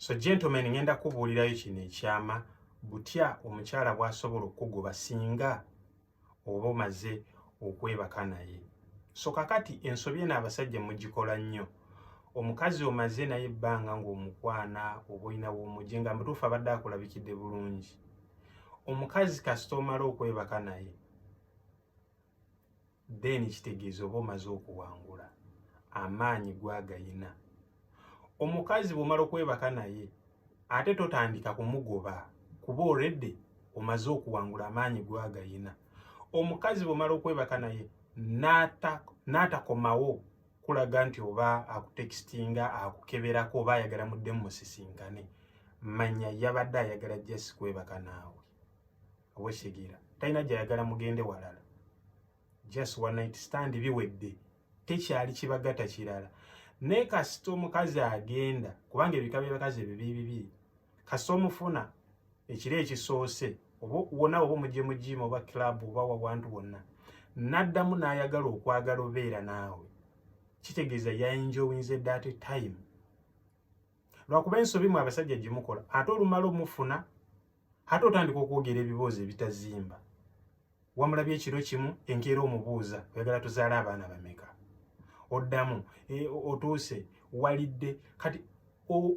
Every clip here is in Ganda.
so gentlemen ngenda kubuulirayo kino ekyama butya omukyala bwasobola okukugoba singa oba omaze okwebaka naye so kakati ensobi eno abasajja mugikola nnyo omukazi omaze naye ebbanga ng'omukwana oba olina womugye nga mutuufu abadde akulabikidde bulungi omukazi kasita omala okwebaka naye then kitegeeza oba omaze okuwangula amaanyi gwagayina omukazi bwomala okwebaka naye ate totandika kumugoba kuba olredde omaze okuwangula amaanyi gwagayina omukazi bwomala okwebaka naye n'atakomawo kulaga nti oba akutekisinga akukeberako oba ayagala muddemu musisinkane manya yabadde ayagala jasi kwebaka naawe owesigera talina gyayagala mugende walala just one night stand biwedde tekyali kibagata kirala naye kasita omukazi agenda kubanga ebika byebakazi ebyo bibibi kasita omufuna ekiro ekisoose oba wona oba omugye mugiima oba club oba wawantu wonna naddamu n'ayagala okwagala obeera naawe kitegeeza yainjowinze dat time lwakuba ensobi mu abasajja gyemukola ate olumala omufuna ate otandika okwogera ebiboozi ebitazimba wamulabye ekiro kimu enkeera omubuuza oyagala tuzaala abaana bameka oddamu e, otuuse walidde kati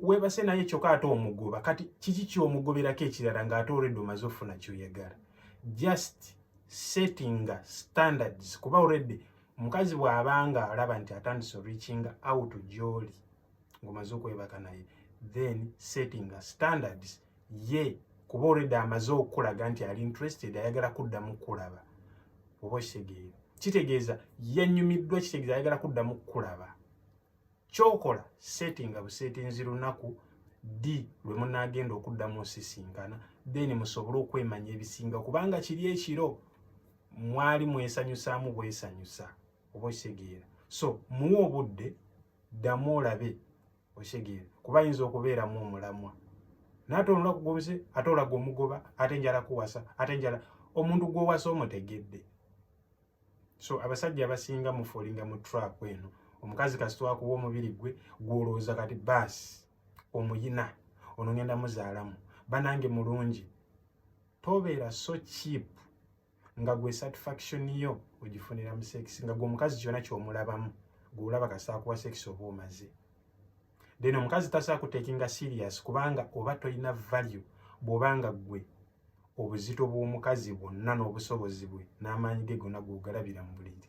webase naye kyokka ate omugoba kati kiki kyomugoberako ekirala ng'ate olwedde omaze ofuna kyoyagala just settinga standards kuba olwedde omukazi bw'abanga alaba nti atandise reachinga out gyoli ngomaze okwebaka naye then setting a standards ye kuba already amaze okukulaga nti ali interested ayagala kuddamu kukulaba oba okitegeera kitegeeza yanyumiddwa kitegeeza ayagala kuddamu kukulaba kyokola settinga busetinzi lunaku di lwe munaagenda okuddamu osisinkana then musobole okwemanya ebisinga kubanga kiri ekiro mwali mwesanyusaamu bwesanyusa oba okitegeera so muwe obudde ddamu olabe okitegeera kuba ayinza okubeeramu omulamwa naate olunaku gwomuze ate olaga omugoba ate njala kuwasa ate njala omuntu gwowasa omutegedde so abasajja abasinga mufolinga mu trap eno omukazi kasitwakuba omubiri gwe gwolowooza kati baasi omuyina ono ngenda muzaalamu banange mulungi tobeera so cheap nga gwe satisfaction yo ogifunira mu sex nga gwe omukazi kyona kyomulabamu gwe olaba kasita akuwa sex oba omaze then omukazi tasobola kutekinga serious kubanga oba tolina value bwoba nga gwe obuzito bw'omukazi bwonna n'obusobozi bwe n'amaanyi ge gonna gwogalabira mu buliri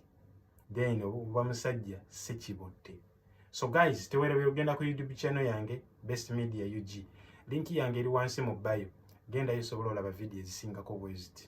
then oba musajja si kibotte so guys tewerebera ogenda ku youtube channel yange best media ug linki yange eri wansi mu bayo gendayo osobola olaba vidiyo ezisingako bweziti